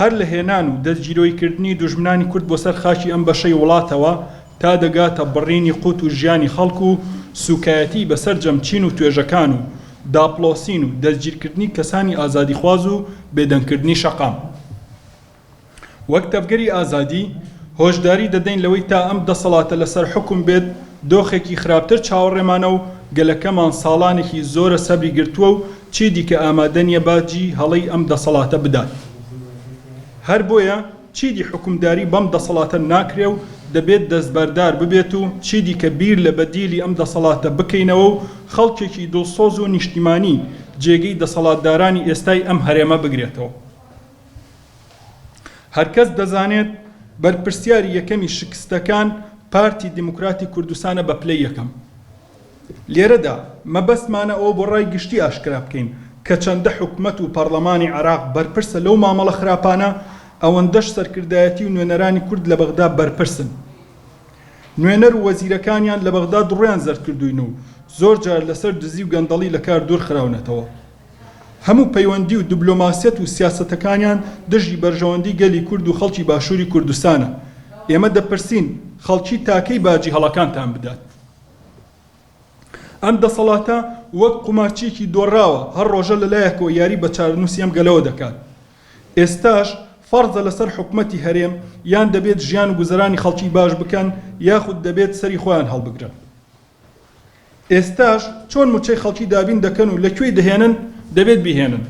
هەر لە هێنان و دەستگیرۆیکردنی دوژمنانی کورد بۆ سەر خاکی ئەم بەشەی وڵاتەوە تا دەگاتە بڕینی قوت و ژیانی خەڵک و سوکایەتی بە سەرجەم چین و توێژەکان و داپڵۆسین و دەستگیرکردنی کەسانی ئازادیخواز و بێدەنگکردنی شەقام وەک تەڤگەری ئازادی هۆشداری دەدەین لەوەی تا ئەم دەسەڵاتە لەسەر حوکم بێت دۆخێکی خراپتر چاوەڕێمانە و گەلەکەمان ساڵانێکی زۆرە سەبری گرتووە و چی دیکە ئامادە نیە باجی هەڵەی ئەم دەسەڵاتە بدات. هەر بۆیە چیدی حوکمداری بەم دەسەڵاتە ناکرێ و دەبێت دەستبەردار ببێت و چیدیکە بیر لە بەدیلی ئەم دەسەڵاتە بکەینەوە و خەڵکێکی دڵسۆز و نیشتیمانی جێگەی دەسەڵاتدارانی ئێستای ئەم هەرێمە بگرێتەوە. هەرکەس دەزانێت بەرپرسیاری یەکەمی شکستەکان پارتی دیموکراتی کوردستانە بە پلەی یەکەم. لێرەدا مەبەستمانە ئەوە بۆ ڕای گشتی ئاشکرا بکەین کە چەندە حکومەت و پەڕڵەمانی عێراق بەرپرسە لەو مامەڵە خراپانە، ئەوەندەش سەرکردایەتی و نوێنەرانی کورد لە بەغدا بەرپرسن. نوێنەر و وەزیرەکانیان لە بەغدا دڕۆیان زەردکردووین و زۆر جار لەسەر دزی و گەندەڵی لە کار دوور خراونەتەوە. هەموو پەیوەندی و دبلۆماسیەت و سیاسەتەکانیان دژی بەرژەوەندی گەلی کورد و خەڵکی باشووری کوردستانە. ئێمە دەپرسین خەڵکی تا کەی باجی هەڵەکانتان بدات؟ ئەم دەسەڵاتە وەک قومارچیەکی دۆڕاوە هەر ڕۆژە لە لایەکەوە یاری بە چارەنووسی ئەم گەلەوە دەکات ئێستاش فەرزە لەسەر حکومەتی هەرێم یان دەبێت ژیان و گوزەرانی خەڵکی باش بکەن یاخود دەبێت سەری خۆیان هەڵبگرن ئێستاش چۆن موچەی خەڵکی دابین دەکەن و لە کوێی دەهێنن دەبێت بیهێنن.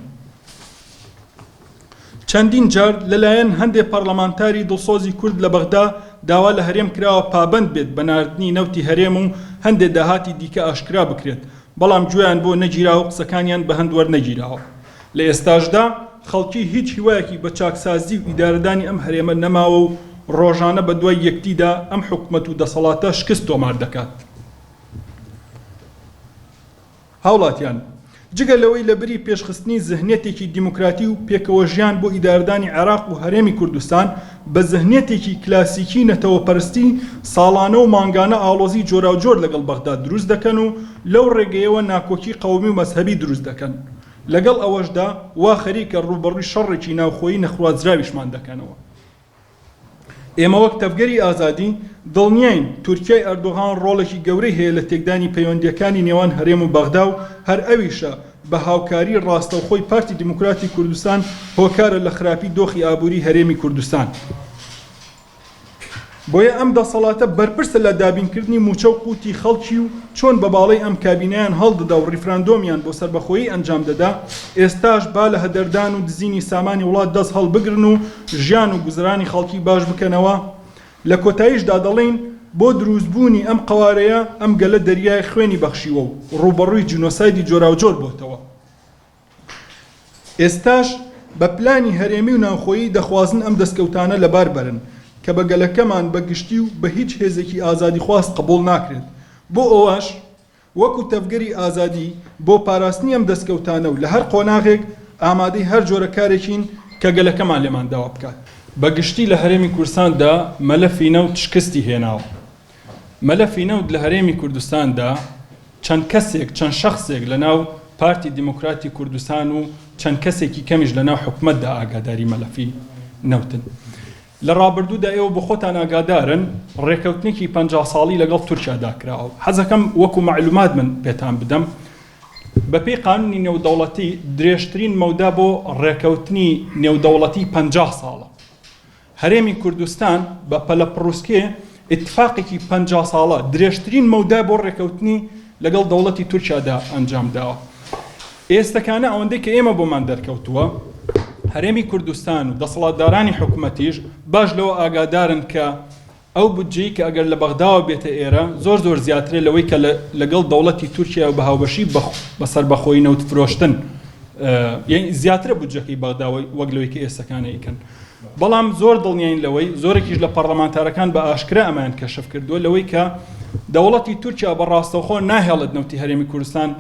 چەندین جار لەلایەن هەندێ پەڕلەمانتاری دڵسۆزی کورد لە بەغدا داوا لە هەرێم کراوە پابەند بێت بە ناردنی نەوتی هەرێم و هەندێ داهاتی دیکە ئاشکرا بکرێت بەڵام گوێیان بۆ نەگیراوە قسەکانیان بە هەند وەرنەگیراوە لە ئێستاشدا خەڵکی هیچ هیوایەکی بە چاکسازی و ئیدارەدانی ئەم هەرێمە نەماوە و ڕۆژانە بە دوای یەکدیدا ئەم حکومەت و دەسەڵاتە شکست تۆمار دەکات. هاوڵاتیان، جگە لەوەی لەبری پێشخستنی زهنیەتێکی دیموکراتی و پێکەوەژیان بۆ ئیدارەدانی عێراق و هەرێمی کوردستان بە زهنیەتێکی کلاسیکی نەتەوەپەرستی، ساڵانە و مانگانە ئاڵۆزی جۆراوجۆر لەگەڵ بەغداد دروست دەکەن و لەو ڕێگەیەوە ناکۆکی قەومی و مەزهەبی دروست دەکەن. لەگەڵ ئەوەشدا، وا خەریکە ڕووبەڕووی شەڕێکی ناوخۆیی نەخوازراویشمان دەکەنەوە. ئێمە وەک تەڤگەری ئازادی دڵنیاین تورکیای ئەردۆغان ڕۆڵێکی گەورەی هەیە لە تێکدانی پەیوەندییەکانی نێوان هەرێم و بەغدا و هەر ئەویشە بە هاوکاری ڕاستەوخۆی پارتی دیموکراتی کوردستان هۆکارە لە خراپی دۆخی ئابووری هەرێمی کوردستان. بۆیە ئەم دەسەڵاتە بەرپرسە لە دابینکردنی مووچە و قووتی خەڵکی و چۆن بە باڵەی ئەم کابینەیان هەڵدەدا و ڕیفراندۆمیان بۆ سەربەخۆیی ئەنجام دەدا، ئێستاش با لە هەدەردان و دزینی سامانی وڵات دەست هەڵبگرن و ژیان و گوزەرانی خەڵکی باش بکەنەوە، لە کۆتاییشدا دەڵێین، بۆ درووستبوونی ئەم قەوارەیە ئەم گەلە دەریای خوێنی بەخشیوە و ڕووبەڕووی جینۆسایدی جۆراوجۆر بۆتەوە. ئێستاش بە پلانی هەرێمی و ناوخۆیی دەخوازن ئەم دەستکەوتانە لەبار بەرن کە بە گەلەکەمان بە گشتی و بە هیچ هێزێکی ئازادیخواز قبووڵ ناکرێت. بۆ ئەوەش وەکو تەڤگەری ئازادی بۆ پاراستنی ئەم دەستکەوتانە و لە هەر قۆناغێک ئامادەی هەر جۆرە کارێکین کە گەلەکەمان لێمان داوا بکات. بە گشتی لە هەرێمی کوردستاندا مەلەفی نەوت شکستی هێناوە. مەلەفی نەوت لە هەرێمی کوردستاندا چەند کەسێک، چەند شەخسێک لە ناو پارتی دیموکراتی کوردستان و چەند کەسێکی کەمیش لە ناو حکومەتدا ئاگاداری مەلەفی نەوتن. لە ڕابردوودا ئێوە بۆ خۆتان ئاگادارن ڕێکەوتنێکی پەنجا ساڵی لەگەڵ تورکیادا کراوە، حەزەکەم وەکو مەعلومات من پێتان بدەم بەپێی قانوونی نێودەوڵەتی درێژترین مەودا بۆ ڕێکەوتنی نێودەوڵەتی پەنجا ساڵە. هەرێمی کوردستان بە پەلەپڕوسکێ ئیتفاقێکی پەنجا ساڵە درێژترین مەودا بۆ ڕێکەوتنی لەگەڵ دەوڵەتی تورکیادا ئەنجام داوە. ئێستەکانە ئەوەندەی کە ئێمە بۆمان دەرکەوتووە، هەرێمی کوردستان و دەسەڵاتدارانی حکومەتیش باش لەوە ئاگادارن کە ئەو بودجەی کە ئەگەر لە بەغداوە بێتە ئێرە زۆر زۆر زیاترە لەوەی کە لەگەڵ دەوڵەتی تورکیاوە بە هاوبەشی بە سەربەخۆی نەوت فرۆشتن یەنی زیاترە بودجەکەی بەغدا وەک لەوەی کە ئێستەکانە ئەیکەن. بەڵام زۆر دڵنیاین لەوەی، زۆرێکیش لە پەڕڵەمانتارەکان بە ئاشکرا ئەمەیان کەشف کردووە، لەوەی کە دەوڵەتی تورکیا بە ڕاستەوخۆ ناهێڵێت نەوتی هەرێمی کوردستان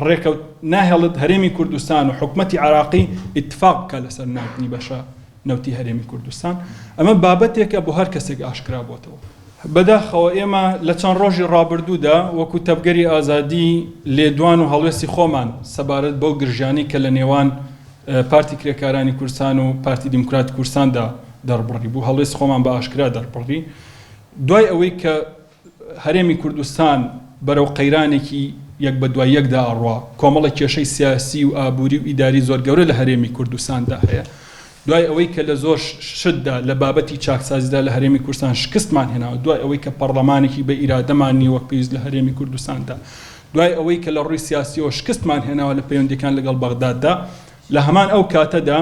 ڕێکەوت ناهێڵێت هەرێمی کوردستان و حکومەتی عێراقی ئیتفاق بکات لەسەر ناردنی بەشە نەوتی هەرێمی کوردستان. ئەمە بابەتێکە بۆ هەر کەسێک ئاشکرا بۆتەوە. بەداخەوە ئێمە لە چەند ڕۆژی ڕابردوودا وەکوو تەڤگەری ئازادی لێدوان و هەڵوێستی خۆمان سەبارەت بەو گرژیانەی کە لە نێوان، پارتی کرێکارانی کوردستان و پارتی دیموکراتی کوردستاندا دەڕبڕی بوو، هەڵوێستی خۆمان بە ئاشکرا دەڕبڕی. دوای ئەوەی کە هەرێمی کوردستان بەرەو قەیرانێکی یەک بە دوای یەکدا ئەڕوا، کۆمەڵە کێشەی سیاسی و ئابووری و ئیداری زۆر گەورە لە هەرێمی کوردستاندا هەیە. دوای ئەوەی کە لە زۆر شتدا لە بابەتی چاکسازیدا لە هەرێمی کوردستان شکستمان هێناوە، دوای ئەوەی کە پەڕڵەمانێکی بە ئیرادەمان نییە وەک پێویست لە هەرێمی کوردستاندا، دوای ئەوەی کە لە ڕووی سیاسییەوە شکستمان هێناوە لە پەیوەندییەکان لەگەڵ بەغداددا، لە هەمان ئەو کاتەدا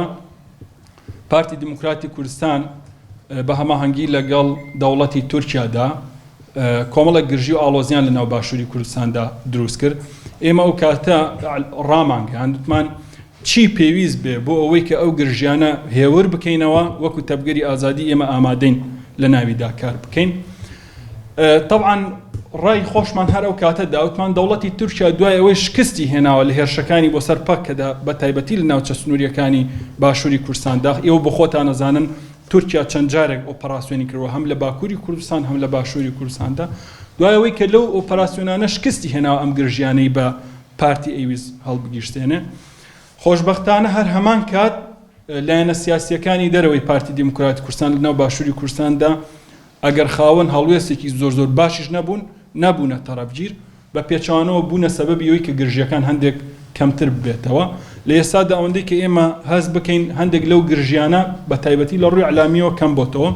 پارتی دیموکراتی کوردستان بە هەماهەنگی لەگەڵ دەوڵەتی تورکیادا کۆمەڵێک گرژی و ئاڵۆزیان لە ناو باشووری کوردستاندا دروست کرد. ئێمە ئەو کاتە ڕامانگەیان وتمان چی پێویست بێ بۆ ئەوەی کە ئەو گرژیانە هێور بکەینەوە وەکو تەبگەری ئازادی ئێمە ئامادەین لە ناویدا کار بکەین. تەبعەن ڕای خۆشمان هەر ئەو کاتە دا وتمان دەوڵەتی تورکیا دوای ئەوەی شکستی هێناوە لە هێرشەکانی بۆ سەر پەککەدا بە تایبەتی لە ناوچە سنوورییەکانی باشووری کوردستان دا، ئێوە بۆ خۆتان ئەزانن تورکیا چەند جارێک ئۆپەراسیۆنی کردووە هەم لە باکووری کوردستان هەم لە باشووری کوردستان دا، دوای ئەوەی کە لەو ئۆپەراسیۆنانە شکستی هێناوە ئەم گرژییانەی بە پارتی ئەیویست هەڵبگیرسێنێ. خۆشبەختانە هەر هەمان کات لایەنە سیاسییەکانی دەرەوەی پارتی دیموکراتی کوردستان لە ناو باشووری کوردستان دا ئەگەر خاوەن هەڵوێستێکی زۆر زۆر باشیش نەبوون، نەبوونە تەڕەفگیر، بە پێچەوانەوە بوونە سەبەبی ئەوەی کە گرژییەکان هەندێک کەمتر ببێتەوە. لە ئێستادا ئەوەندەی کە ئێمە هەست بکەین هەندێک لەو گرژییانە بە تایبەتی لە ڕووی ئیعلامییەوە کەم بۆتەوە،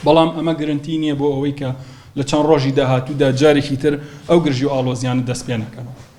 بەڵام ئەمە گرەنتی نییە بۆ ئەوەی کە لە چەند ڕۆژی داهاتوودا جارێکی تر ئەو گرژی و ئاڵۆزییانە دەست پێ نەکەنەوە.